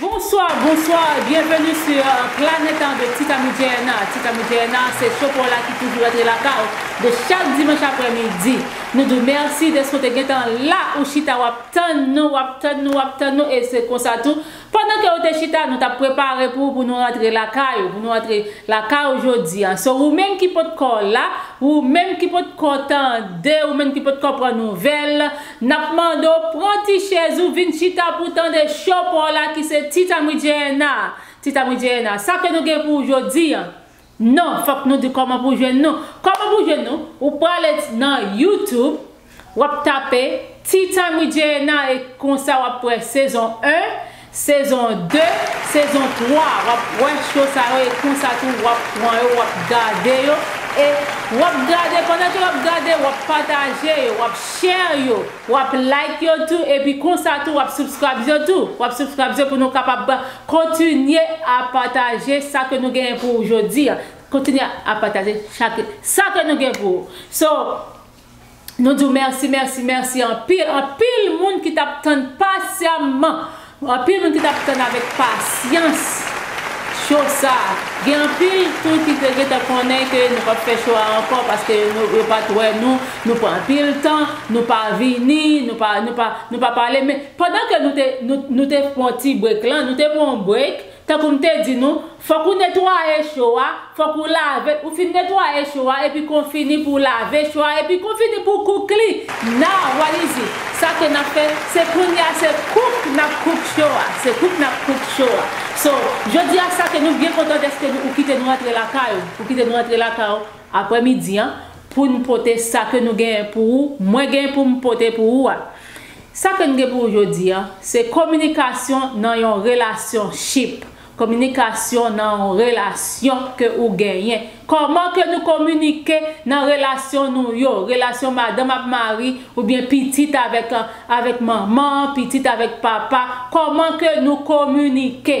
Bonsoir bonsoir et bienvenue sur planète avec Tika Mijaena Tika Mijaena se show paw la ki toujou rantre lakay ou de chak dimanche aprè midi nou diw merci deske ou te gentan la ou chita wap tann nou wap tann nou wap tann nou e se konsa tou Pandan ke ou te chita nou tap prepare pou pou nou rantre lakay ou pou nou rantre lakay ou jodi an so ou menm ki pot kò la ou menm ki pot kò tande ou menm ki pot kò pran nouvèl nap mande w pran ti chèz ou vin chita pou tande show paw la ki se Titamidjeyena Titamidjeyena sa ke nou gen pou ou jodi an Non, fòk nou di kòman pou jwenn nou. Kòman pou jwenn nou, ou prale nan YouTube, wap tape Tea time with Jayena e konsa wap wè sezon 1, sezon 2, sezon 3, wap wè show sa yo e konsa tou wap pran yo wap gade yo e wap gade pandan ke wap gade wap pataje yo, wap share yo, wap like yo tou epi konsa tou wap subscribes yo tou, wap subscribes yo pou nou kapab Kontinye a pataje sa ke nou genyen pou ou jodi a. Kontinye a pataje chak sa ke nou gen pou ou. So, nou di w mèsi, mèsi, mèsi anpil. Anpil moun ki t ap tann pasyamman. Anpil moun ki t ap tann avèk pasyans cho sa a. Gen anpil tou ki te gentan konnen ke nou p ap fè cho a ankò paske yo pa t wè nou. Nou pran anpil tan. Nou pa vini. Nou pa pale. Men. Pandan ke nou te nou te pwan ti break lan, nou te pwan yon break, tankou m te di nou, fòk ou netwaye cho a, fòk ou lave l, ou fin netwaye cho a epi kon fini pou w lave cho a epi kon fini pou w cook li. Now what is it? Sa ke n ap fè, se kounye a se cook n ap cook cho a, se cook n ap cook cho a. So, jodi a sa ke nou byen kontan dèske nou ou kite nou rantre lakay ou, ou kite nou rantre lakay ou aprè midi an pou n pote sa ke nou genyen pou ou, mwen genyen pou m pote pou ou a. Sa ke n gen pou w jodi an, se kominikasyon nan yon relasyonship, kominikasyon nan yon relasyon ke ou genyen. Kòman ke nou kominike nan relasyon nou yo, relasyon madanm ak mari, oubyen pitit avèk avèk manman, pitit avèk papa, kòman ke nou kominike.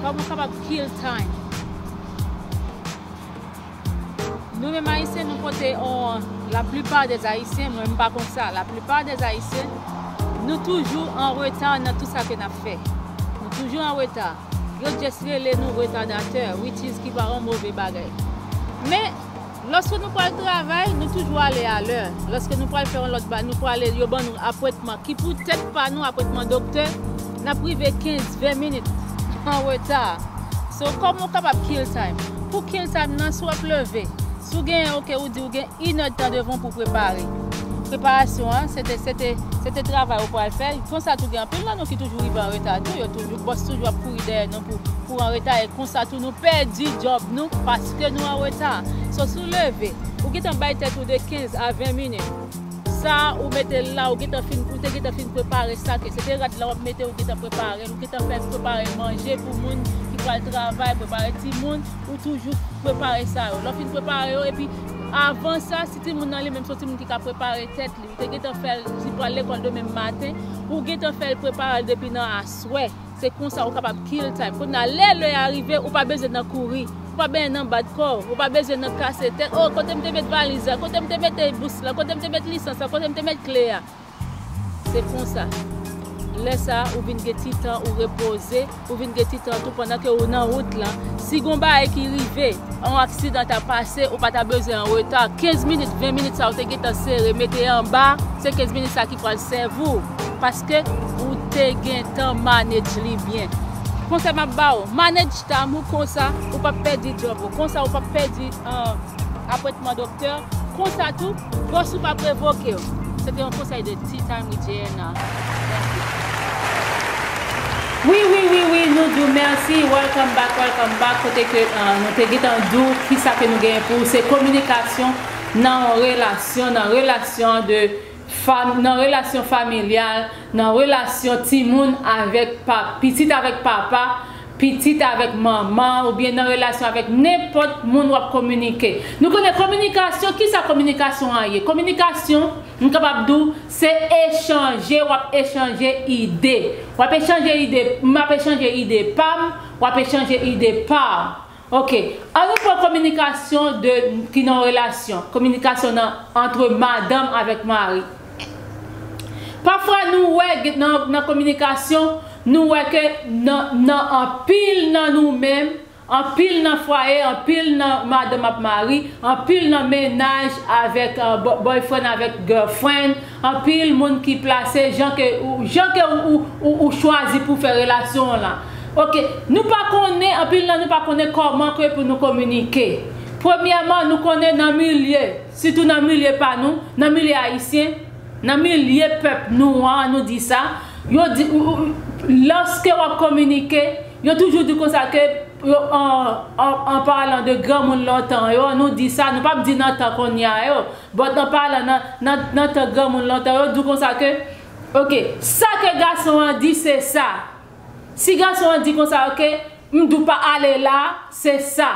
Koman kapab kill time. Nou menm ayisyen nou pote on la plupart des ayisyen mwen m pa kon sa la plupart des ayisyen nou toujou an reta nan tout sa ke nap fè nou toujou an reta yo just rele nou retardateur which is ki pa on move bagay men Lòske nou pral travay, nou toujou ale alè. Lòske nou pral fè yon lòt bagay, nou prale, yo ban nou apwentman ki pou tèt pa nou, apwentman doktè, n ap rive 15, 20 minit an reta. So, kòman ou kapab kill time? Pou kill time nan, si w ap leve, si w genyen ok, ou di ou gen inèdtan devan w pou w prepare. Preparasyon an, se te, se te, se te travay ou pral fè. Konsa tou gen anpil nan nou ki toujou rive an reta tou, yo toujou, bòs toujou ap kouri dèyè nou pou, pou anreta e konsa tou nou pèdi djòb nou pas. Paske nou an reta. So si w leve, ou gentan bay tèt ou de 15 a 20 minit. Sa ou mete la ou gentan fin ou te gentan fin prepare sa ke se te rad la wap mete ou gentan prepare l ou gentan fè prepare manje pou moun ki pral travay prepare timoun ou toujou prepare sa yo lè w fin prepare yo epi avan sa si timoun nan li menm se yon timoun ki ka prepare tèt li ou te gentan fè l si l pral lekòl demen maten ou gentan fè l prepare l depi nan aswè. Se konsa ou kapab kill time. Kounya lè lè a rive ou pa bezwen nan kouri. Ou pa benyen nan bat kò. Ou pa bezwen nan kase tèt. Oh kote m te met valiz la? Kote m te mete bous la? Kote m te met lisans la? Kote m te met kle a? Se konsa. Lè sa ou vin gen ti tan ou repoze. Ou vin gen ti tan tou pandan ke ou nan wout lan. Si gon bagay ki rive. On aksidan ta pase ou pa ta bezwen an reta. 15 minit, 20 minit sa ou te gen tan sere mete anba. Se 15 minit sa ki. Pral sèvi w paske ou te gentan manage li byen. Konsèy map ba ou, manage time ou konsa ou pap pèdi job ou, konsa ou pap pèdi apwentman doktè, konsa tou boss ou pap revoke w. Se te yon konsèy de Tea Time with JNNA. Merci. Wi wi wi nou di w merci welcome back welcome back kote ke nou te gentan di w kisa ke nou genyen pou ou se kominikasyon nan yon relasyon nan relasyon an de Fanm, nan relasyon familyal, nan relasyon timoun avèk pa, pitit avèk papa, pitit avèk manman oubyen nan relasyon avèk nenpòt moun wap kominike. Nou konnen kominikasyon, kisa kominikasyon an ye? Kominikasyon, m kapab di w, se echanje, wap echanje ide. Wap echanje ide, m ap echanje ide pa m, wap echanje ide pa w. Ok. An nou pran kominikasyon de ki nan yon relasyon, kominikasyon nan antre madanm avèk mari. Pafwa nou wè gen nan nan kominikasyon, nou wè ke nan nan anpil nan nou menm, anpil nan fwaye, anpil nan madanm ak mari, anpil nan mennaj avèk boyfriend avèk girlfriend, Anpil moun ki plase jan ke ou jan ke ou ou ou chwazi pou fè relasyon w lan. Ok. Nou pa konnen, anpil nan nou pa konnen kòman ke pou nou kominike. Premyèman, nou konnen nan milye, sitou nan milye pa nou, nan milye ayisyen, nan milye pèp nou an, an nou di sa, yo di ou ou lòske w ap kominike, yo toujou di konsa ke yo an an an palan de granmoun lontan yo, an nou di sa, nou p ap di nan tan konnya yo. But an palan nan nan tan granmoun lontan yo diw konsa ke ok sa ke gason an di se sa si gason an di konsa ok m diw pa ale la se sa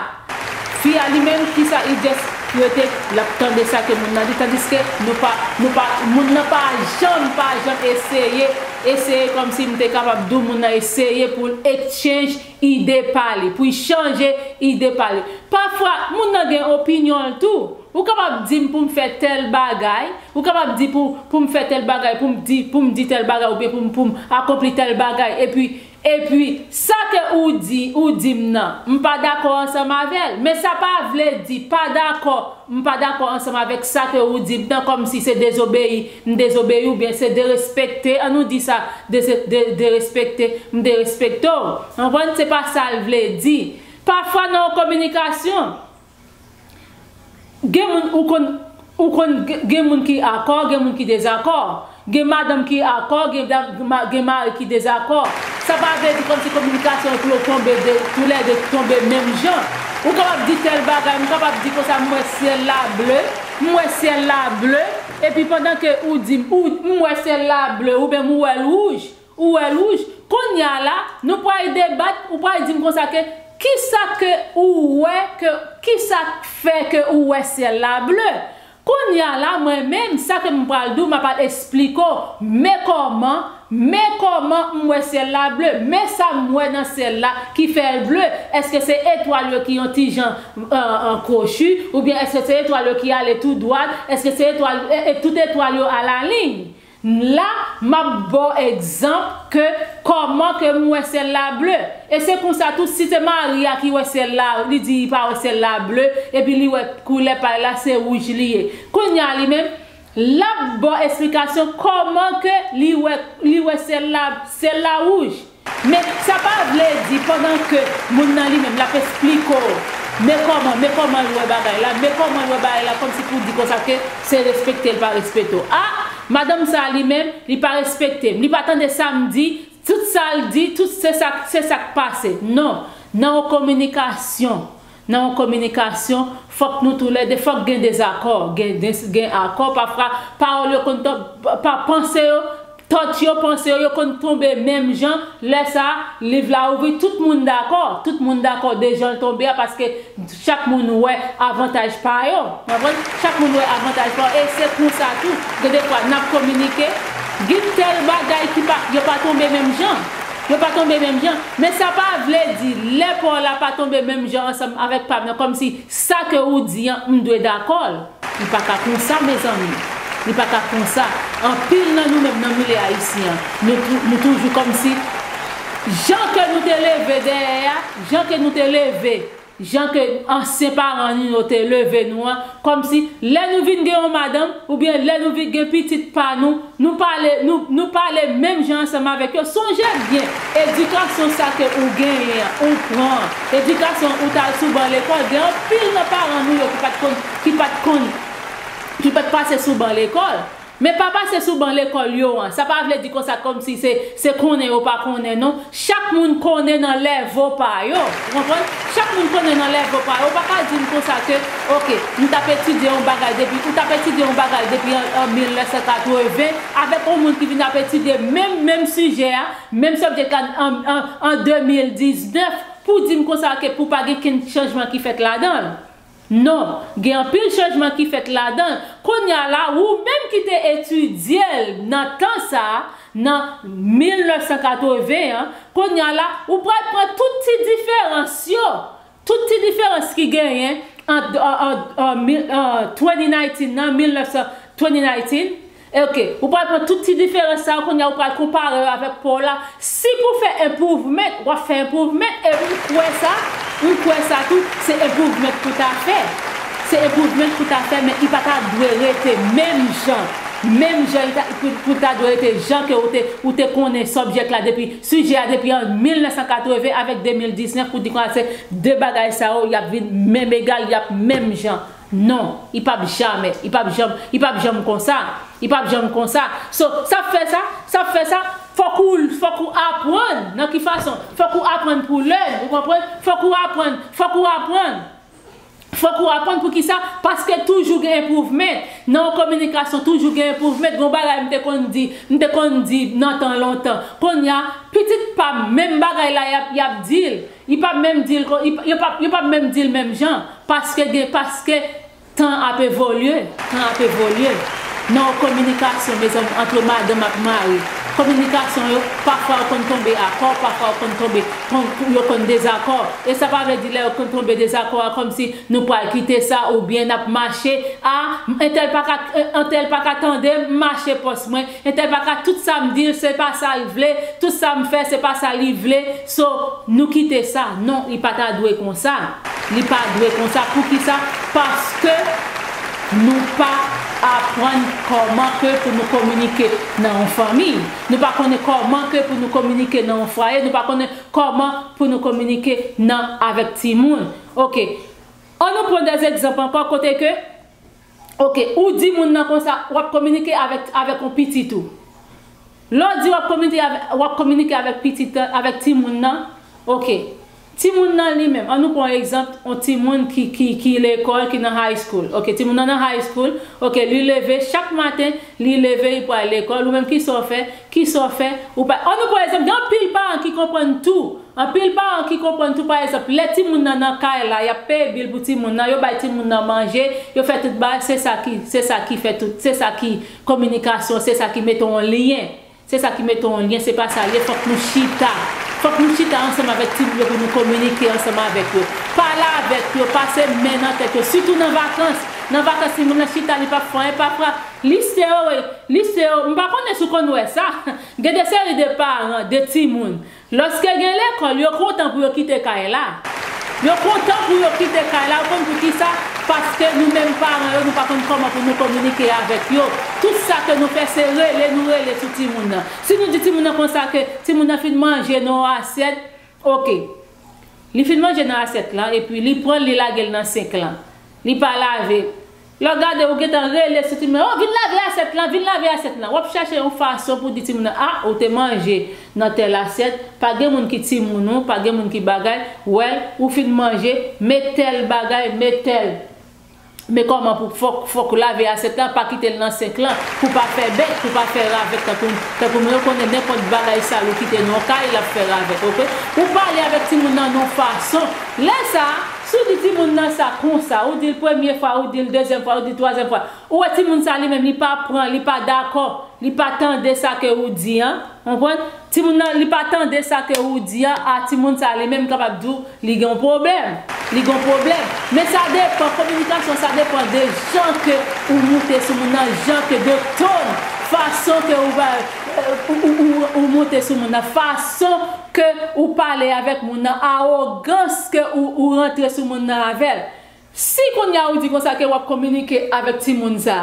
fi a li menm kisa li just rete lap tande sa ke moun nan di tandiske nou pa nou pa moun nan pa janm pa janm eseye eseye komsi m te kapab diw moun nan eseye poul exchange ide pa li pou chanje ide pa li pafwa moun nan gen opinyon l tou Ou kapab di m pou m fè tèl bagay, ou kapab di pou pou m fè tèl bagay, pou m di pou m di tèl bagay oubyen pou m pou m akonpli tèl bagay epi epi sa ke ou di ou di m nan m pa dakò ansanm avè l men sa pa vle di pa dakò m pa dakò ansanm avèk sa ke ou di m nan kòm si se dezobeyi m dezobeyi w oubyen se derespekte an nou di sa dese de derespekte m derespekte w anprann se pa sa l vle di pafwa nan yon kominikasyon Gen moun ou konn ou konn gen moun ki akò gen moun ki dezakò gen madanm ki akò gen gen mari ki dezakò sa pa vle di kòmsi kominikasyon yo pou yo tonbe de tou lè de tonbe menm jan ou kapab di tèl bagay m kapab di konsa m wè syèl la ble m wè syèl la ble epi pandan ke ou di m ou m wè syèl la ble oubyen m wè l wouj Ou wè louj? Konnya la, nou pral debat, ou pral dim konsa ke kisa ke ou wè ke kisa k fè ke ou wè syèl la ble? Konnya la mwen menm sa ke m pral di w m ap al esplike w men kòman, men kòman m wè syèl la ble, men sa m wè nan syèl la ki fè l ble, èske se etwal yo ki yon ti jan kwochi oubyen èske se etwal yo ki ale tou dwat, èske se etwal, e tout etwal yo a la liy? M la map baw egzanp ke koman ke m wè syèl la ble. E se konsa tou si se Maria ki wè syèl la li di li pa wè syèl la ble epi li wè koulè pay la se wouj li ye. Kounya li menm lap baw esplikasyon koman ke li wè li wè syèl la syèl la wouj. Men sa pa vle di pandan ke moun nan li menm lap esplike w men kòman men kòman l wè bagay la men kòman l wè bagay la kòmsi pou di konsa ke se respekte l pa respete w ah madanm sa li menm li pa respekte m li pa tande sa m di tout sa l di tout se sa se sa k pase non nan yon kominikasyon Nan yon kominikasyon, fòk nou tou lè de, fòk gen dezakò, gen des, gen akò, pafra pawòl yo konn to, pa, panse yo, tòt yo, panse yo, yo konn tonbe menm jan, lè sa a, liv la ouvri, tout moun dakò, tout moun dakò de jan l tonbe a paske chak moun wè avantaj pa yo, nou konprann, chak moun wè avantaj pa yo e se konsa tou, gen de fwa n ap kominike, gen tèl bagay ki pa, yo pa tonbe menm jan. Yo pa tonbe menm jan. Men sa pa vle di lè pa w la pa tonbe menm jan ansanm avèk pa m nan kòm si sa ke ou di an m dwe dakò l. Li pa ka konsa mezanmi. Li pa ka konsa. Anpil nan nou menm nan milye ayisyen an, nou nou toujou kòm si jan ke nou te leve dèyè a, jan ke nou te leve. Jan ke ansyen paran nou yo te leve nou an, kòmsi lè nou vin gen yon madanm, oubyen lè nou vin gen pitit pa nou, nou pale, nou, nou pale menm jan ansanm avèk yo. Sonje byen, edikasyon sa ke ou genyen an, ou pran an, edikasyon ou t al sou ban lekòl, gen anpil nan paran nou yo ki pa t konn, ki pa t konn, ki pa t pase sou ban lekòl. Men pa pase sou ban lekòl yo an. Sa pa vle di konsa kòmsi se se konnen yo pa konnen non. Chak moun konnen nan lèvo pa yo. Ou konprann? Chak moun konnen nan lèvo pa yo. Ou pa ka di m konsa ke ok, m t ap etidye yon bagay depi, ou t ap etidye yon bagay depi an 1980 avèk yon moun ki vin ap etidye menm menm sijè a, menm subject la an an an 2019 pou di m konsa ke pou pa gen kenn chanjman ki fèt ladan l. Non, gen anpil chanjman ki fèt ladan l kounye a la, ou menm ki te etidye l nan tan sa a, nan 1980 an, kounye a la, ou pral pran tout ti diferans yo, tout ti diferans ki genyen ant 2019 nan, 1900, 2019, Ok, ou pral pran tout ti diferans sa yo kounye a ou pral konpare yo avèk paw la, si pou fè improvement wap fè improvement e m kwè sa, m kwè sa tou, se improvement pou ta fè, se improvement pou ta fè men u pa ta dwe rete menm jan, menm jan u ta, pou ta dwe rete jan ke ou te, ou te konnen subject la depi, sujet a depi an 1980 avèk 2019 pou di konsa se 2 bagay sa yo yap vin menm egal, yap menm jan. Non, i pap jamè, i pap janm, i pap janm konsa, i pap janm konsa. So, sa fè sa, sa fè sa, fòk ou, fòk ou aprann, nan ki fason? Fòk ou aprann pou learn, ou konprann? Fòk ou aprann, fòk ou aprann, fòk ou aprann pou ki sa? Paske toujou gen improvement, nan yon kominikasyon toujou gen improvement, gen yon bagay m te konn di, m te konn di nan tan lontan, konnya pitit pa m menm bagay la y ap, y ap di l. Yo pap menm dil kon yo pap yo pap menm dil menm jan paske gen paske tan ap evolye tan ap evolye nan yon kominikasyon mezanmi antre madanm ak mari kominikasyon yo pafwa yo konn tonbe akò pafwa yo konn tonbe kon yo konn dezakò e sa pa vle di lè yo konn tonbe dezakò a kòmsi nou pwal kite sa oubyen nap mache a entèl paka entèl paka tandem m mache pòs mwen Entè paka tout sam dil se pa sal vle tout sam fè se pa sa li vle so nou kite sa non li pa ta dwe konsa li pa dwe konsa poukisa paske nou pa aprann kòman ke pou nou kominike nan yon fanmi nou pa konnen kòman ke pou nou kominike nan yon fwaye nou pa konnen kòman pou nou kominike nan avèk timoun ok an nou pran dè egzanp ankò kote ke Ok ou di moun nan konsa wap kominike avèk avèk yon pitit ou lè w di wap kominike avèk wap kominike avèk pitit avèk timoun nan ok timoun nan li menm an nou pran egzanp yon timoun ki ki ki lekòl ki nan high school ok timoun nan nan high school ok li leve chak maten li leve li pral lekòl ou menm kisa w fè kisa w fè ou pa an nou pran egzanp gen anpil paran ki konprann tou Anpil paran ki konprann tou pa egzanp lè timoun nan nan kay la yap peye bil pou timoun nan yo bay timoun nan manje yo fè tout bagay se sa ki se sa ki fè tout se sa ki kominikasyon se sa ki mete yon lyen se sa ki mete yon lyen se pa sa lye fòk nou chita fòk nou chita ansanm avèk timoun yo pou nou kominike ansanm avèk yo pale avèk yo pase men nan tèt yo sitou nan vakans nan vakans timoun nan chita li pap fè anyen pap pran lise yo lise yo m pa konnen si w konn wè sa gen de seri de paran de timoun Lòske gen lekòl, yo kontan pou yo kite kay la. Yo kontan pou yo kite kay la, ou konn pou kisa? Paske nou menm paran yo nou pa konn kòman pou nou kominike avèk yo. Tout sa ke nou fè se rele nou rele sou timoun nan. Si nou di timoun nan konsa ke timoun nan fin manje nan yon asyèt, ok. Li fin manje nan asyèt lan epi li pranl li lagel nan sink lan. Li pa lave. Lè w gade, ou gentan rele sou timoun lan, O, vin lave asyèt lan, vin lave asyèt lan. W ap chache yon fason pou di timoun lan, A, ou te manje nan tèl asyèt, pa gen moun ki timoun ou, pa gen moun ki bagay, wèl, ou fin manje, met tèl bagay, met tèl. Men kòman pou, fòk, fòk ou lave asyèt lan, pa kite l nan senk lan, pou pa fè bèt, pou pa fè ravèt tankou, tankou nou yo konnen nenpòt bagay sal ou kite nan yon kay, l ap fè ravèt, ok. Ou pale avèk timoun nan nan yon fason. Lè sa a. Si w di timoun nan sa konsa, ou di l premye fwa, ou di l dezyèm fwa, ou di l twazyèm fwa, ou wè timoun sa li menm li pa pran, li pa dakò, li pa tande sa ke ou di an, ou konprann? Timoun nan li pa tande sa ke ou di an, a timoun sa li menm m kapab di w li gen yon pwoblèm, li gen yon pwoblèm. Men sa depan, kominikasyon sa depan de jan ke ou moute sou moun nan, jan ke de ton, fason ke ou, ou moute sou moun nan, fason. ke ou pale avèk moun nan awogans ke ou ou rantre sou moun nan avèl si kounya ou di konsa ke wap kominike avèk timoun sa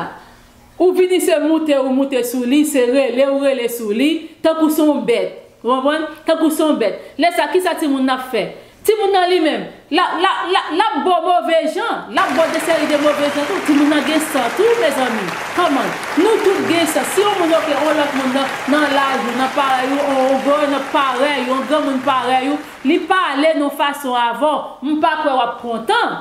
ou vini se moute ou moute sou li se rele ou rele sou li tankou son bèt ou konprann tankou son bèt lè sa kisa timoun nan ap fè Timoun nan li menm, l ap bo move jan, l ap bo de seri de move jan tou, timoun nan gen san tou mezanmi, come on, nou tout gen san, si yon moun oke yon lòt moun nan laj ou, nan parèy ou, yon granmoun parèy ou, li pale nan yon fason avè w, m pa kwè w ap kontan,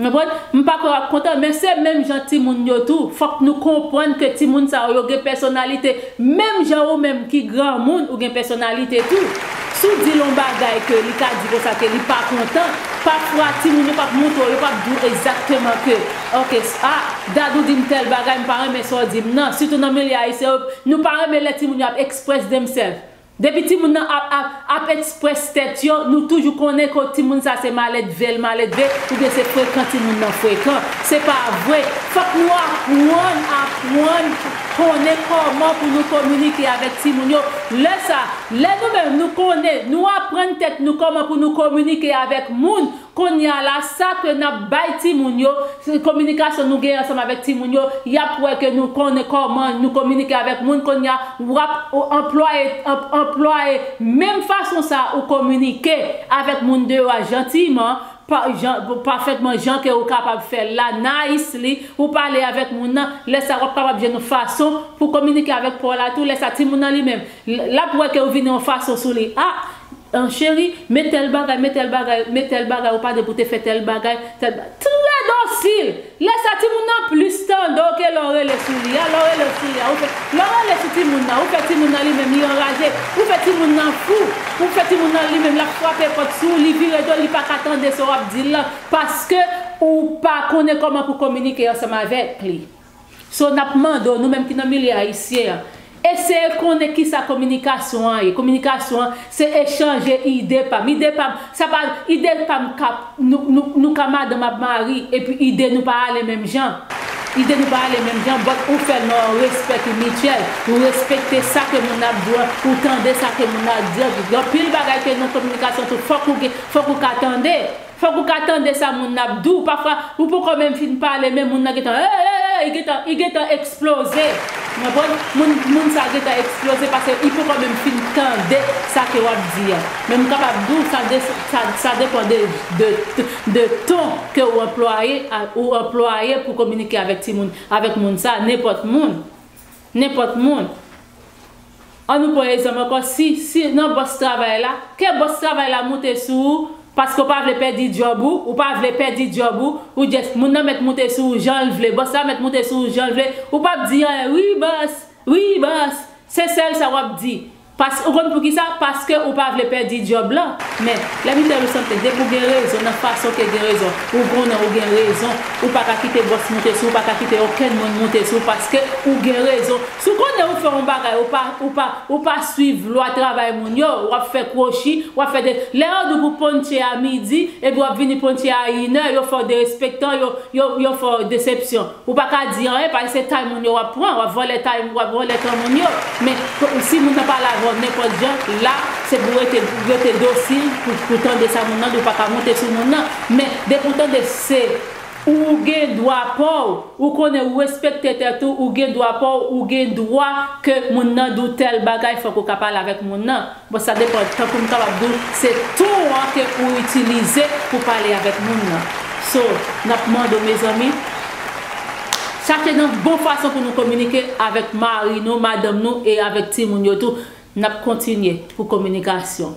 Konprann? M pa kwè w ap kontan, men se menm jan timoun yo tou. Fòk nou konprann ke timoun sa yo, yo gen pèsonalite. Menm jan ou menm ki granmoun, ou gen pèsonalite tou. Si w di l yon bagay ke li ka di konsa ke li pa kontan, pafwa timoun yo p ap montre w, yo p ap di w egzakteman ke, ok, a, Dadou di m tèl bagay, m pa renmen sa w di m nan. Sitou nan milye ayisyen yo, nou pa renmen lè timoun yo ap express themselves. Depi timoun nan ap ap ap express tèt yo nou toujou konnen ke timoun sa se maledve l maledve oubyen se frekan timoun nan frekan. Se pa vre. Fòk nou apwann apwann konnen kòman pou nou kominike avèk timoun yo. Lè sa, lè nou menm nou konnen, nou apwann tèt nou kòman pou nou kominike avèk moun Konnya la sa ke nap bay timoun yo, kominikasyon nou genyen ansanm avèk timoun yo, yap wè ke nou konnen kòman nou kominike avèk moun konnya wap anplwaye anplwaye menm fason sa ou kominike avèk moun deyò a jantiyman pa jan pafètman jan ke ou kapab fèl la nicely ou pale avèk moun nan lè sa wap kapab jwenn yon fason pou kominike avèk paw la tou lè sa timoun nan li menm lap wè ke ou vin yon fason sou li ah An cheri, men tèl bagay, men tèl bagay, men tèl bagay ou pa gen pou te fè tèl bagay, tèl ba. Trè dosil! Lè sa timoun nan plis tande w ke lè w rele sou li a, lè w rele sou li a, ou fè, lè w rele sou timoun nan, ou fè timoun nan li menm li anraje, ou fè timoun nan fou, ou fè timoun nan li menm l ap frape pòt sou w, li vire do l li pa ka tande sa w ap di l lan paske ou pa konnen kòman pou kominike ansanm avèk li. So nap mande w nou menm ki nan milye ayisyen an, eseye konnen kisa kominikasyon an ye, kominikasyon an se echanje ide pam, ide pam, sa pa, ide pam ka, nou ka madanm ak mari epi ide nou pa ale menm jan, ide nou pa ale menm jan but ou fèl nan yon respè ki mityèl, ou respekte sa ke moun nan ap di w lan, ou tande sa ke moun nan ap di an, gen anpil bagay ke nan kominikasyon tou fòk ou gen, fòk ou ka tande. Fòk ou ka tande sa moun nan ap di w pafwa ou poko menm fin pale men moun nan gentan eeeeee li gentan li gentan eksploze ou konprann moun moun sa gentan eksploze paske li poko menm fin tande sa ke wap di an men m kapab di w sa de sa sa depan de de de ton ke ou anplwaye a ou anplwaye pou kominike avèk timoun avèk moun sa nenpòt moun nenpòt moun. An nou pran ezanp ankò si si nan bòs travay la, ke bòs travay la moute sou ou paske ou pa vle pèdi djòb ou, ou pa vle pèdi djòb ou, ou just moun nan mèt moute sou ou jan l vle, bòs la mèt moute sou ou jan l vle, ou pap di anyen wi bòs, wi bòs, se sèl sa wap di. Paske ou konn poukisa, paske ou pa vle pèdi djòb lan. Men, lè misye di w something, depi w gen rezon nan fason ke gen rezon, ou konnen ou gen rezon, ou pa ka kite bòs moute sou ou, ou pa ka kite okenn moun moute sou ou paske ou gen rezon. Si w konnen ou fè yon bagay ou pa ou pa ou pa swiv lwa travay moun yo, w ap fè kwochi, w ap fè de lè yo di w pou ponche a midi epi w ap vini ponche a inè yo fè w derespektan yo yo yo fè w desepsyon. Ou pa ka di anyen paske se tay moun yo w ap pran, w ap vòlè tay w ap vòlè tan moun yo. Men, si moun nan pale avè w nenpòt jan, la se pou w rete rete dosil pou pou tande sa moun nan di, ou pa ka monte sou moun nan. Men, depi w tande se. Ou gen dwa paw, ou konnen ou respekte tèt ou, ou gen dwa paw, ou gen dwa ke moun nan di w tèl bagay fòk ou ka pale avèk moun nan. Bon sa depan tankou m kapab di w se ton an ke ou itilize pou pale avèk moun nan. So, n ap mande w mezanmi, chache nan bon fason pou nou kominike avèk mari nou, madanm nou e avèk timoun yo tou. N ap kontinye pou kominikasyon.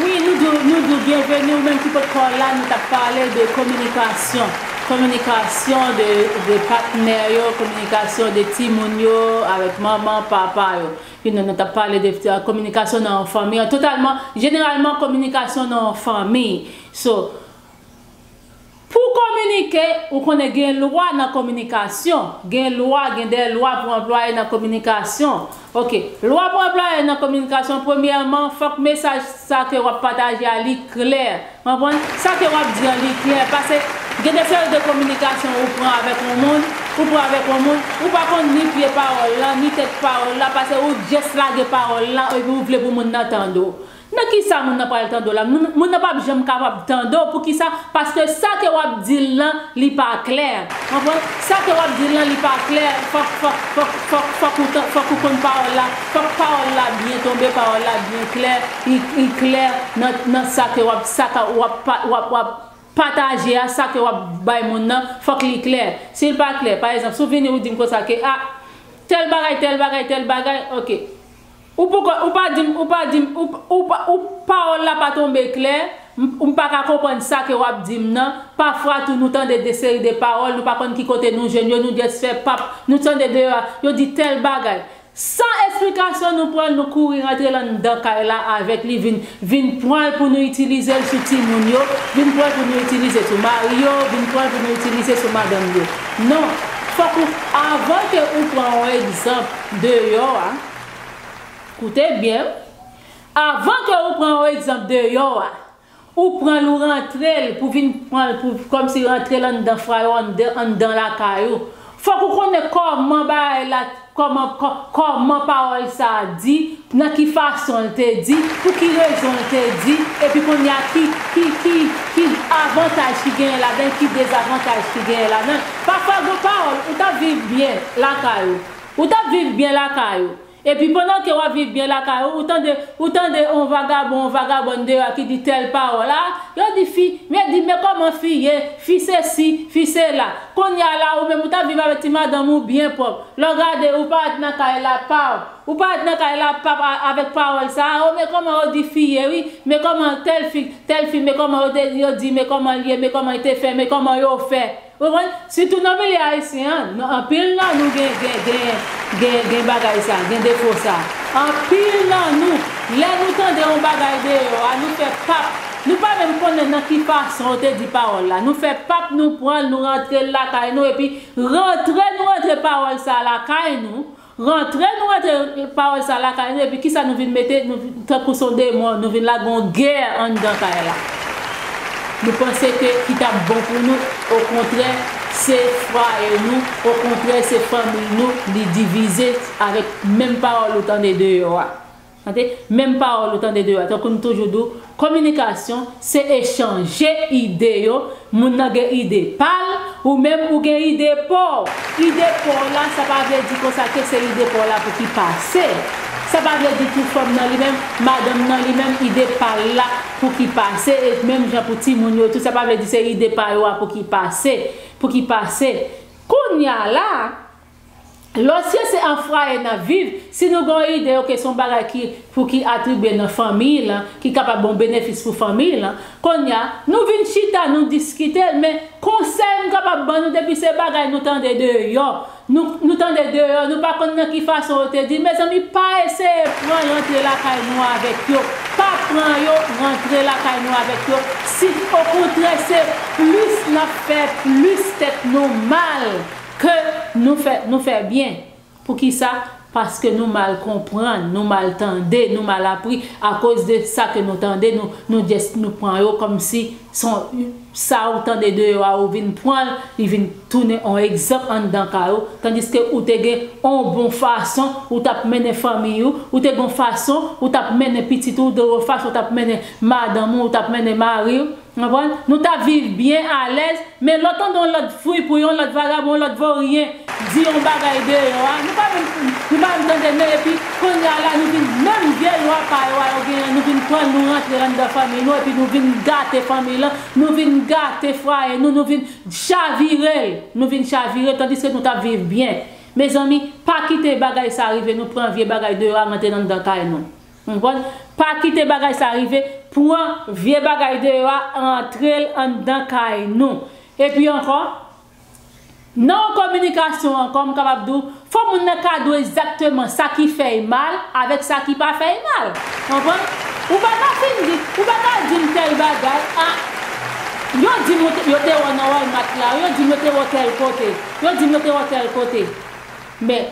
Wi nou di w, nou di w byenveni ou menm ki pot ko la, nou tap pale de kominikasyon, kominikasyon de de patnè yo, kominikasyon de timoun yo avèk manman, papa yo, you know nou tap pale de kominikasyon nan yon fanmi an totalman, jeneralman kominikasyon nan yon fanmi so Pou kominike, ou konnen gen lwa nan kominikasyon, gen lwa, gen de lwa pou anplwaye nan kominikasyon. Ok. Lwa pou anplwaye nan kominikasyon, premyèman, fòk mesaj sa ke w ap pataje a li klè. Konprann? Sa ke w ap di an li klè. Pase, gen de seri de kominikasyon ou pran avèk yon moun, ou pran avèk yon moun, ou pa konn ni pye pawòl lan, ni tèt pawòl la, pase ou just lage pawòl lan epi ou vle pou moun nan tande w. Nan kisa moun nan pral tande w la? Moun nan pap janm kapab tande w poukisa? Paske sa ke wap di l lan li pa klè. Konprann? Sa ke wap di l lan li pa klè, fòk fòk fòk fòk fòk ou tan fòk ou konn pawòl la, fòk pawòl la byen tonbe, pawòl la byen klè, i i klè nan nan sa ke wap sa ka wap pa wap wap pataje a, sa ke wap bay moun nan, fòk li klè. Si l pa klè, pa egzanp, si w vini ou di m konsa ke a tèl bagay tèl bagay tèl bagay, ok. Ou poko ou pa dim ou pa dim ou ou pa ou pawòl la pa tonbe klè m m pa ka konprann sa ke wap dim nan pafwa tou nou tande de seri de pawòl nou pa konn ki kote nou jwenn yo nou just fè pap nou tande deyò a yo di tèl bagay san esplikasyon nou pranl nou kouri rantre lan dan kay la avèk li vin vin pranl pou nou itilizel sou timoun yo vin pranl pou nou itilize sou mari yo vin pranl pou nou itilize sou madanm yo non fòk ou avan ke ou pran yon egzanp deyò a. Koute byen wi. Avan ke ou pran yon egzanp deyò a, ou pran l ou rantre l pou vin pran l pou kòmsi rantre l anndan fwa yo anndan lakay ou. Fòk ou konnen kòman bagay la kòman kòman pawòl sa a di, nan ki fason l te di, pou ki rezon l te di, epi kounye a ki ki ki ki avantaj ki genyen ladan l, ki dezavantaj ki genyen ladan l. Pafwa gen yon pawòl ou ta viv byen lakay ou. Ou tap viv byen lakay ou. Epi pandan ke wap viv byen lakay ou, ou tande, ou tande on vagabon, on vagabòn deyò a ki di tèl pawòl, ah, yo di fi, men di men kòman fi ye, fi sesi, fi sela. Konnya la ou menm ou tap viv avèk ti madanm ou byen pwòp. Lè w gade, ou parèt nan kay la, paw. Ou parèt nan kay la, pap, a, avèk pawòl sa a, oh men kòman yo di fi ye wi, men kòman tèl fi, tèl fi men kòman yo te, yo di men kòman l ye, men kòman l te fè, men kòman yo fè. Ou konprann? Sitou nan milye ayisyen an, nan anpil nan nou gen gen gen gen gen bagay sa, gen defo sa. Anpil nan nou, lè nou tande yon bagay deyò a, nou fè pap, nou pa menm konnen nan ki fason yo te di pawòl la, nou fè pap nou pran l, nou rantre l lakay nou epi rantre nou rantre pawòl sa a lakay nou, Rantre nou rantre pawòl sa lakay nou epi kisa nou vin mete nou tankou son demon nou vin la gon gè anndan kay la nou panse ke ki tap bon pou nou okontrè se fwaye nou okontrè se fanmiy nou li divize avèk menm pawòl ou tande deyò a Tande, menm pawòl ou tande deyò a, tankou m toujou di w, kominikasyon, se echanje ide yo, moun nan gen ide pa l, ou menm ou gen ide pa w. Ide pa w la, sa pa vle di konsa ke se ide pa w la pou ki pase. Sa pa vle di tou fanm nan li menm, madanm nan li menm, ide pa l la pou ki pase, e menm jan pou timoun yo tou, sa pa vle di se ide pa yo a pou ki pase, pou ki pase. Kounya la, Lòsyè se an fwaye nap viv, si nou gen yon ide ok son bagay ki pou ki atribye nan fanmiy lan ki kapab yon benefis pou fanmiy lan, konnya nou vin chita nou diskitel men konsèy m kapab ban nou depi se bagay nou tande deyò nou nou tande deyò nou pa konn nan ki fason yo te di mezanmi pa eseye pran rantre lakay nou avèk yo pa pran yo rantre lakay nou avèk yo si okontrè se plis nap fè plis tèt nou mal. Ke nou fè, nou fè byen. Poukisa? Paske nou mal konprann, nou mal tande, nou mal apri, akoz de sa ke nou tande, nou, nou just, nou pran yo kòm si son, sa ou tande deyò a ou vin pran l, li vin tounen on egzanp anndan kay ou, tandiske ou te gen on bon fason ou t ap mennen fanmiy ou, ou te gen on fason ou t ap mennen pitit ou, ou te gen on fason ou t ap mennen madanm ou, ou t ap mennen mari ou. Ou konprann? Nou ta viv byen alèz, men lè w tande yon lòt fripouy, yon lòt vagabon, yon lòt voryen di yon bagay deyò a, nou pa menm nou pa menm tande men epi kounye a la nou vin menm vye lwa pa yo a yo genyen nou vin pran l nou rantre anndan fanmiy nou epi nou vin gate fanmiy lan, nou vin gate fwaye nou, nou vin chavire l, nou vin chavire l tandiske nou t ap viv byen. Mezanmi, pa kite bagay sa rive nou pran vye bagay deyò a rantre anndan kay nou. Konprann? Pa kite bagay sa rive, pran vye bagay deyò a rantre l anndan kay nou. Epi ankò, nan yon kominikasyon ankò, m kapab di w, fò moun nan ka di w egzakteman sa ki fè y mal avèk sa ki pa fè y mal. Konprann? Ou pa ka fin di, ou pa ka di m tèl bagay, a, yo di m ou te, yo te wè w nan Walmart la, yo di m yo te wè w tèl kote, yo di m yo te wè w tèl kote. Men,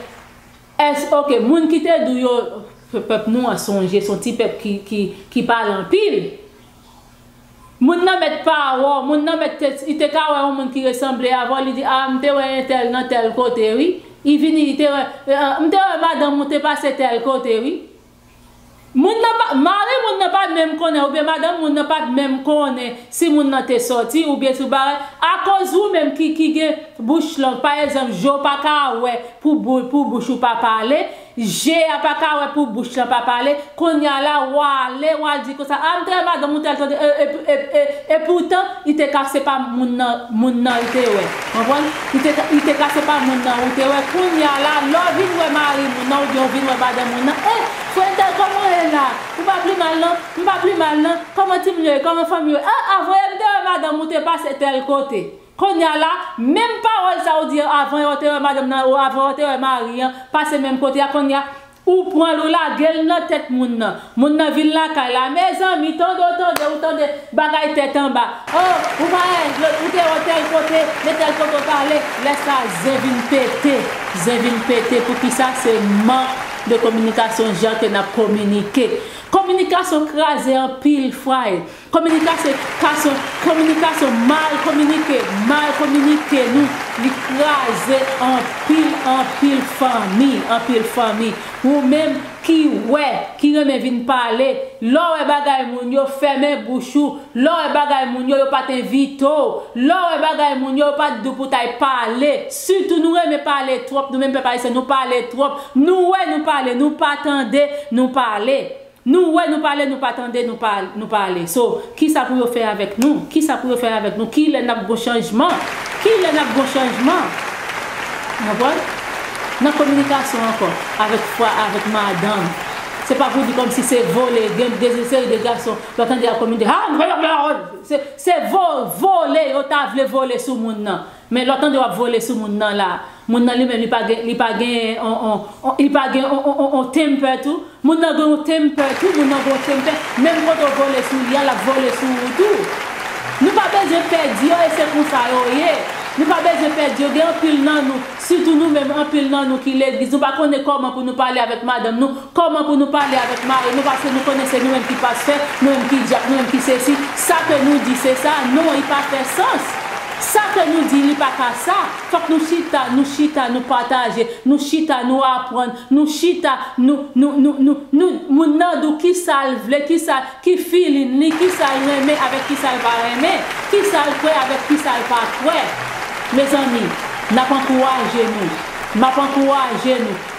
S ok moun ki te dou yo pèp nou an sonje son ti pèp ki pale anpil moun nan mèt pa wè w moun nan mèt li te ka wè yon moun ki resanble avè w li di ah m te wè entèl nan tèl kote wi li vini li te wè m te wè madanm ou te pase tèl kote wi. Moun nan pa, mari moun nan pa menm konnen oubyen madanm moun nan pat menm konnen si moun nan te sòti oubyen tout bagay, akoz ou menm ki ki gen bouch long, pa egzanp je w pa ka wè pou bou pou bouch ou pa pale, je a pa ka wè pou bouch lan pa pale, kounya la wa ale wa di konsa a m te wè madanm ou te al tande e e e e e poutan Li te ka se pa moun nan moun nan l te wè. Konprann? Li te ka li te ka se pa moun nan ou te wè. Kounye a la, lè w vin wè mari moun nan oubyen ou vin wè madanm moun nan, eh! Frè entèl kòman w ye la? Ou pa pli mal non? M pa pli mal non. Kòman timoun yo ye? Kòman fanmi yo ye? Ah ah voye m te wè madanm ou te pase tèl kote. Kounye a la, menm pawòl sa ou di yo avan yo te wè madanm nan ou avan yo te wè mari an pase menm kote a kounye a, Ou pranl ou lagel nan tèt moun nan. Moun nan vin lakay la mezanmi tande ou tande ou tande bagay tèt anba oh ou pa eh lot ou te oh tèl kote men tèl kote ou pa ale lè sa zen vin pete zen vin pete poukisa se mank de kominikasyon jan ke nap kominike kominikasyon kraze anpil fwaye Kominika se ka son kominika son mal kominike mal kominike nou li kraze anpil anpil fanmi anpil fanmi ou menm ki wè ki renmen vin pale lè w wè bagay moun yo fèmen bouch ou lè w wè bagay moun yo yo pat envite w lè w wè bagay moun yo yo pat di w pou w ta y pale sitou nou renmen pale twòp nou menm pèp ayisyen nou pale twòp nou wè nou pale nou pa tande nou pale. Nou wè nou pale nou pa tande nou pa nou pa ale so kisa pou yo fè avèk nou kisa pou yo fè avèk nou kilè nap gon chanjman kilè nap gon chanjman nan pwòl nan kominikasyon ankò avèk fwa avèk madanm se pa pou di kòmsi se vole gen de ze seri de gason lò tande yap kominike haa se se vo vole yo ta vle vole sou moun nan. Men lè w tande w ap vole sou moun nan la, moun nan li menm li pa gen li pa gen on on on li pa gen on on on on temper tou, moun nan gen on temper tou, moun nan gen on temper, menm kote w vole sou li a l ap vole sou ou tou. Nou pa bezwen pè di yo e se konsa yo ye. Nou pa bezwen pè di yo gen anpil nan nou, sitou nou menm anpil nan nou ki legliz nou pa konnen kòman pou nou pale avèk madanm nou, Kòman pou nou pale avèk mari nou paske nou konnen se nou menm ki pastè, nou menm ki dyak, nou menm ki sesi, sa ke nou di se sa, non li pa fè sans, sa ke nou di li pa ka sa, fòk nou chita, nou chita nou pataje, nou chita nou aprann, nou chita nou, nou, nou, nou, nou, moun nan di w kisa l vle, kisa, ki filin li, kisa l renmen avèk kisa l pa renmen, kisa l kwè avèk kisa l pa kwè. Mezanmi, n ap ankouraje nou, m ap ankouraje nou.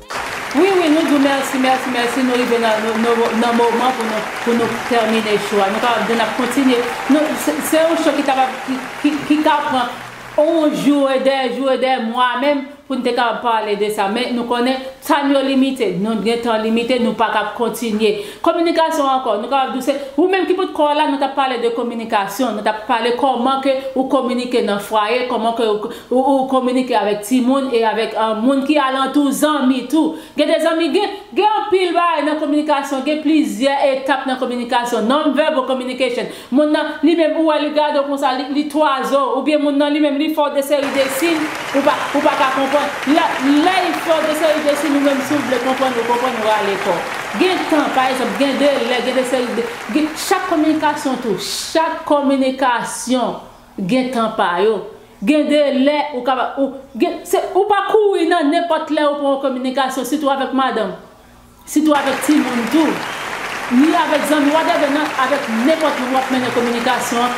Wi wi nou di w mèsi mèsi mèsi nou rive nan moman pou nou pou nou tèmine cho a nou kapab di nap kontinye nou se yon cho ki kapab ki ka pran yon jou e dè jou e dè mwa menm pou nou te kapab pale de sa men nou konnen tan yo limite nou gen tan limite nou pa kab kontinye Kominikasyon ankò, nou kapab di w se ou menm ki pot kò w la, nou t ap pale de kominikasyon, nou t ap pale kòman ke ou kominike nan fwaye, kòman ke ou ou kominike avèk timoun e avèk moun ki alantou w, zanmi tou. Gen de zanmi, gen gen anpil bagay nan kominikasyon, gen plizyè etap nan kominikasyon, non-verbal communication. Moun nan li menm ou wè li gade w konsa li twazo oubyen moun nan li menm li fè w de seri de siy ou pa ou pa ka konprann lè lè y fè w de seri de siy ou menm si w vle konprann ou konprann ou rale kò w gen tan pa egzanp gen de lè gen de seri de gen chak kominikasyon tou chak kominikasyon gen tan pa yo gen de lè ou kab ou gen se ou pa kouri nan nenpòt lè ou pran yon kominikasyon sitou avèk madanm. Sitou avèk timoun tou. Ni avèk zanmi whatever nan avèk nenpòt moun wap mennen kominikasyon an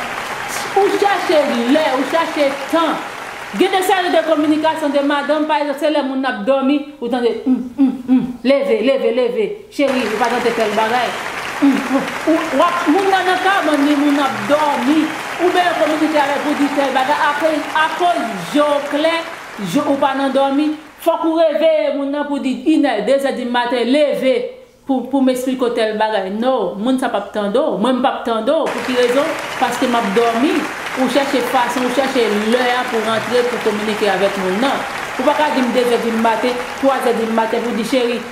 ou chache lè ou chache tan gen de seri de kominikasyon de madanm pa egzanp se lè moun nan ap dòmi ou tande humm humm humm leve leve leve cheri ou pa tante tèl bagay humm humm ou wap moun nan nan kabann li moun nan ap dòmi ou byen kominike avèl pou di tèl bagay akoz je w klè je ou pa nan dòmi Fok ou reveye moun nan pou di inè, dezè di maten leve pou pou m esplike w tèl bagay no, moun sa pap tande w, mwen m pap tande w pou ki rezon paske map domi, ou chèche fason ou chèche lè a pou rantre pou kominike avèk moun nan. Ou pa ka di m dezè di maten, twazè di maten pou di cheri,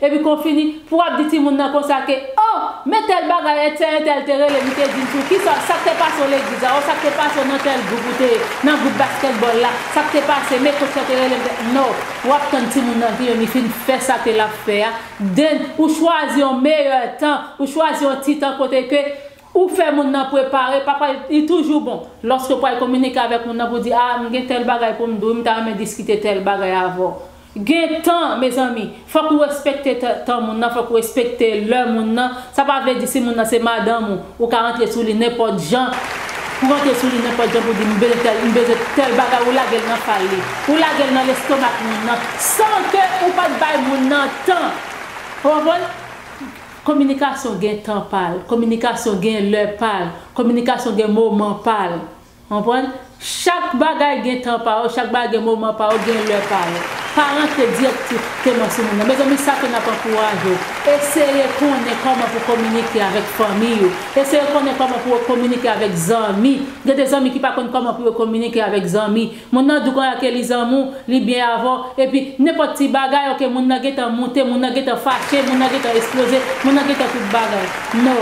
Epi kon fini pou wap di timoun nan konsa ke oh men tèl bagay ètè entèl te rele li te dil tou kisa sak te pase w legliz la oh sak te pase w nan tèl gwoup ou te ye nan gwoup baskètbòl la sak te pase men kotch la te rele m te no wap tann timoun nan vini li fin fè sa ke lap fè a then ou chwazi yon meyè tan ou chwazi yon ti tan kote ke ou fè moun nan prepare papa li toujou bon lòske pwal kominike avèk moun nan pou di a m gen tèl bagay pou m di w wi m ta renmen diskite tèl bagay avè w. Gen tan mezanmi, fòk ou respekte tan moun nan, fòk ou respekte lè moun nan, sa pa vle di si moun nan se madanm ou, ou ka rantre sou li nenpòt jan, pou rantre sou li nenpòt jan pou di m bezwen tèl, m bezwen tèl bagay ou lage l nan fal li, ou lage l nan lestomak moun nan, san ke ou pat bay moun nan tan, ou konprann? Kominikasyon gen tan pa l, kominikasyon gen lè pa l, kominikasyon gen moman pa l. Konprann? Chak bagay gen tan pa yo, chak bagay gen moman pa yo, gen lè pa yo. Pa rantre direktif teman sou moun nan. Mezanmi sa ke nap ankouraje w, eseye konnen kòman pou kominike avèk fanmiy ou, eseye konnen kòman pou yo kominike avèk zanmi, gen de zanmi ki pa konn kòman pou yo kominike avèk zanmi. Moun nan di w konnya ke li zanmi w, li byen avè w, epi nenpòt ti bagay ok moun nan gentan moute, moun nan gentan fache, moun nan gentan esploze, moun nan gentan tout bagay. No.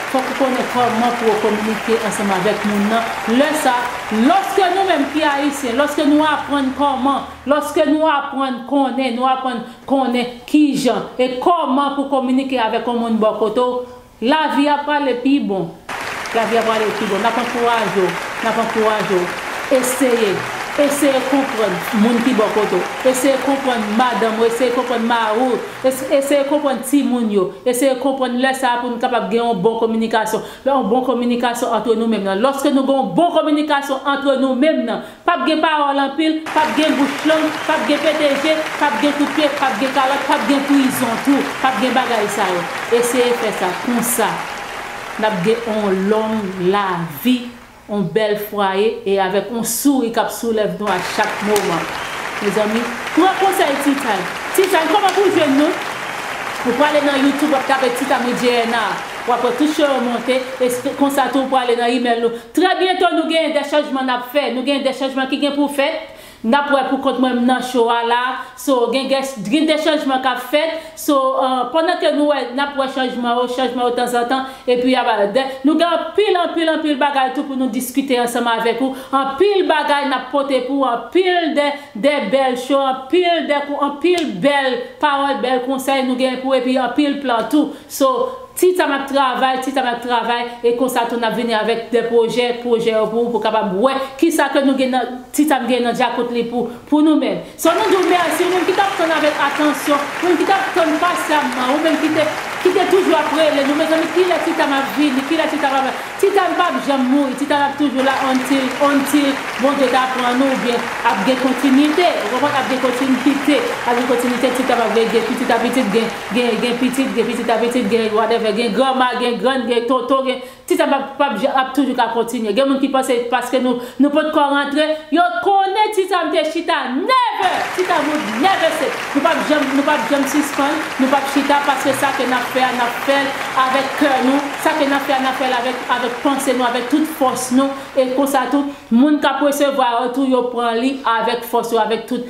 Fòk ou konnen kòman pou ou kominike ansanm avèk moun nan lè sa. Lòske nou menm ki Ayisyen, lòske nou aprann kòman, lòske nou aprann konnen, nou aprann konnen kijan e kòman pou kominike avèk yon moun bò kote w, lavi a prale pi bon. Lavi a prale pi bon. N ap ankouraje w, n ap ankouraje w, eseye, eseye konprann moun ki bò kote w, eseye konprann madanm ou, eseye konprann mari w. Eseye konprann timoun yo. Eseye konprann lè sa a pou nou kapab gen yon bon kominikasyon. Lè yon bon kominikasyon antre nou menm nan. Lòske nou gen yon bon kominikasyon antre nou menm nan. P ap gen pawòl anpil, p ap gen bouch long, p ap gen pete je, p ap gen kout pye, p ap gen kalòt, p ap gen prizon tou. P ap gen bagay sa yo. Eseye fè sa. Konsa, n ap gen yon long lavi. On bèl fwaye e avèk on souri kap sou lèv nou a chak moman. Mezanmi, pran konsèy T-time. T-time, kòman pou w jwenn nou? Ou prale nan YouTube wap tape T-time with JNR. Wap wè tout show yo monte e se konsa tou ou prale nan email nou. Trè byento nou genyen de chanjman nap fè. Nou genyen de chanjman ki gen pou fèt. Nap wè pou kont mwen m nan cho a la so gen gès drin de chanjman kap fèt so pandan ke nou wè nap wè chanjman yo chanjman yo tanzantan epi aba dè nou gen anpil anpil anpil bagay tou pou nou diskite ansanm avèk ou anpil bagay nap pote pou ou anpil de de bèl cho anpil de anpil bèl pawòl bèl konsèy nou gen pou epi anpil plan tou so Ti Tam ap travay, Ti Tam ap travay, e konsa tou nap vini avèk de pwojè, pwojè yo pou ou pou kapab wè kisa ke nou gen nan, Ti Tam gen nan dyakout li pou, pou nou menm. So nou di w mèsi ou menm ki tap tann avèk atansyon, ou menm ki tap tann pasyamman, ou menm ki te, ki te toujou ap rele nou, mezanmi kilè Ti Tam ap vini, kilè Ti Tam ap, Ti Tam pap janm mouri, Ti Tam ap toujou la until, until Bondye ta pran nou oubyen ap gen kontinite, ou konprann, ap gen kontinite, ap gen kontinite, Ti Tam ap veye gen pitit a pitit gen. Gen gen pitit, gen pitit a pitit, gen whatever, gen granma, gen grann, gen tonton, gen ti sa pap pap ja ap toujou ka kontinye. Gen moun ki panse paske nou nou potkò rantre, yo konnen ti sa m te chita never! Ti sa moun never se nou pap janm nou pap janm sispann, nou pap chita paske sa ke nap fè a nap fè l avèk kè nou, sa ke nap fè a nap fè l avèk avèk panse nou, avèk tout fòs nou e konsa tou moun kap resevwa yo tou yo pran li avèk fòs yo avèk tout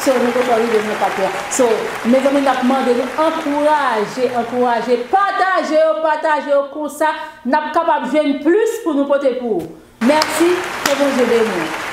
So nou poko rive nan etap la. So mezanmi nap mande nou ankouraje ankouraje pataje yo pataje yo konsa nap kapab jwenn plis pou nou pote pou ou. Mèsi ke Bondye beni w.